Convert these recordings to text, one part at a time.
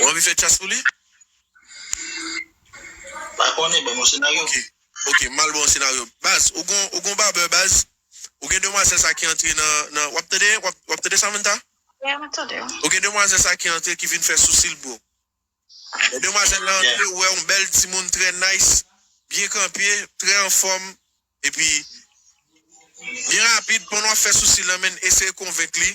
Ou anvi fè tchyas pou li? Pa konnen, banm yon senaryo. Ok, ok, mal baw yon senaryo. Baz, ou gon, ou gon barbeur baz? Ou gen demwazèl sa ki antre nan, nan, wap tande, wap, wap tande Samantha? Yeah, mwen tande w. Ou gen demwazèl sa ki antre ki vin fè sousi l bro. Lè demwazèl la antre, ou wè yon bèl timoun trè nice, byen kanpe, trè anfòm, epi byen rapid, pandan wap fè sousi l lan menn eseye konvenk li.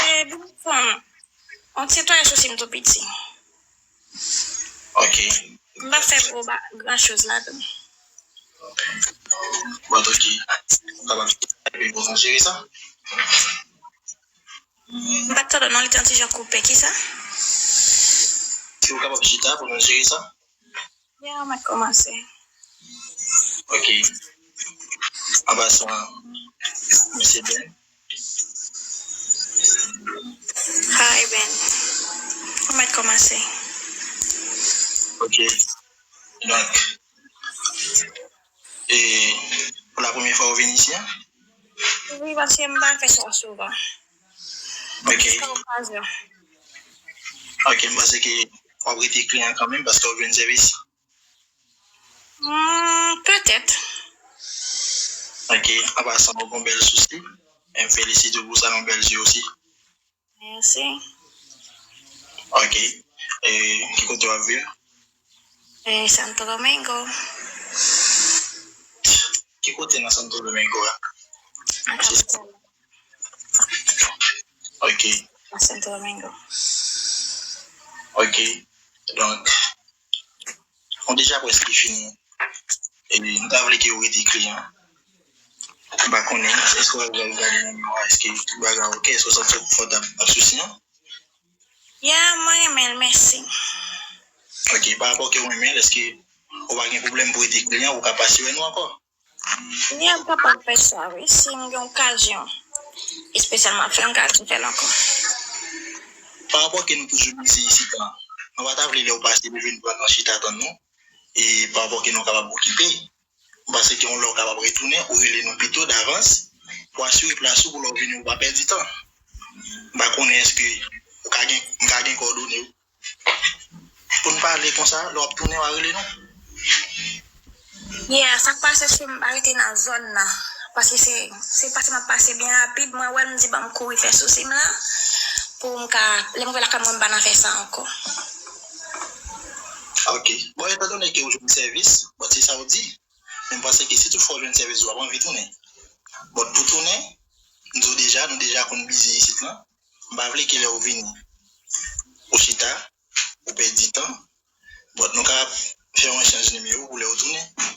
Eee bib pranm on ti twa sou sim tou piti ok m pap fè gwo ba gran choz ladann ok bon ok sa pap epi pou sa cheri sa m pat tande w non li te on ti jan koupe kisa si ou kapab chita pou nou cheri sa. Yeah mwen komanse ok anba son an Mesye Ben. Hi Ben mwen mèt komanse ok donk e pou la premye fwa ou vin isi an? Wi paske m pa fè sa souvan. Ok. Jiska yon 3 zè. Ok, m panse ke w ap rete kliyan kanmenm paske w ap jwenn sèvis. Humm, petèt. Ok, anpa san ou gon bèl sousi. E m felisite w pou sa, yon bèl zye osi. Mèsi. Ok. E ki kote w ap viv? Mwen Santo Domingo. Ki kote nan Santo Domingo a? Nan kapital la. Ok. Nan Santo Domingo. Ok. Donk, nou deja prèske fini. E m ta vle ke ou rete kliyan. M pa konnen, èske w al gade nan miwa, èske tout bagay ok, èske w santi w konfòtab? Pa de sousi non. Yeah mwen renmenl mèsi. Ok pa rapò kew renmenl eske ou pa gen pwoblèm pou rete kliyan ou ka pa siwè nou ankò? Yeah m kapab fè sa wi sim gen okazyon espesyal map fèl m ka vin fèl ankò. Pa rapò ke nou toujou bizi isit lan nou pa ta vle lèw pase pou vin pran nan chita tann nou e pa rapò ke nou kapab okipe. Ou panse gen yon lè ou kapab retounen, ou rele nou pito davans pou asire plas ou pou lè ou vini ou pa pèdi tan. M pa konnen èske ou ka gen, m ka gen kòdone ou pou n pale konsa lè w ap tounen wa rele nou? Yeah, sa k pase chri m pa rete nan zòn nan paske se se pase m ap pase byen rapid mwen wè l m di ban m kouri fè sousi m lan pou m ka lè m vwe lakay mwen m pa nan fè sa ankò. Ok. Bon etan done ke ou jwenn sèvis, bon se sa ou di, men m panse ke si tout fwa ou jwenn sèvis ou ap anvi tounen. But pou tounen, m di w deja, nou deja konn bizi isit lan, m pa vle ke lè ou vini, ou chita, ou pèdi tan, but nou ka fè yon echanj nimewo pou lè ou tounen.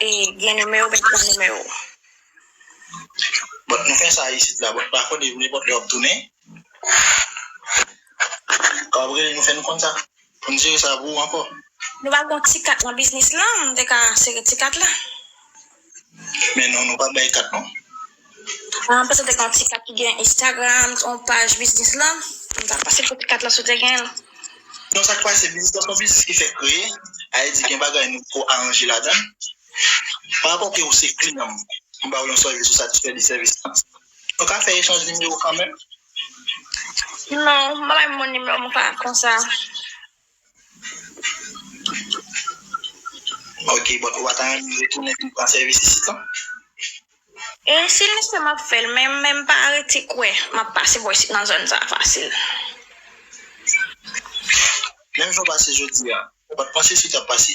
E gen nimewo met pou nimewo. Bon nou fè sa isit la bon pa kode yo nenpòt lè wap tounen wap rele nou fè nou konn sa poun jere sa pou ou ankò. Nou pa gon ti kat nan biznis lan m te ka sere ti kat la. Men non nou pa bay kat non. An pase dèk an ti kat ki gen Instagram on paj biznis lan. M ta pase pou ti kat la si w te gen l. Non sak pase biznis lan se yon biznis ki fèk kreye sa vle di gen bagay nou poko aranje ladan l parapò ke ou se kliyan m m ba w yon sèvis ou satisfè de sèvis lan nou ka fè echanj nimewo kanmèm. Non ou pa bay m nimewo m konsa. Ok but ou pa ta renmen retounen vin pran sèvis isit non? E si l nesesè map fèl men men m pa rete kwè map pase bò isit nan zòn sa fasil. Menm jan w pase jodi a ou pat panse si w tap pase?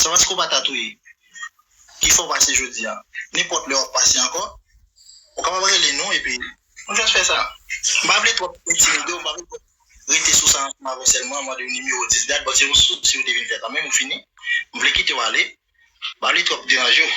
Sa paske w pa ta touye ki fè w pase jodi a. Nenpòt lè w ap pase ankò, ou kapab rele nou epi nou jis fè sa. M pa vle twòp entimide w, m pa vle twòp rete sou sa ansanm avè w sèlman, mande w nimewo 10 dat, bon se yon sousi w te vin fè kanmenm ou fini, m vle kite w ale, m pa vle twòp deranje w.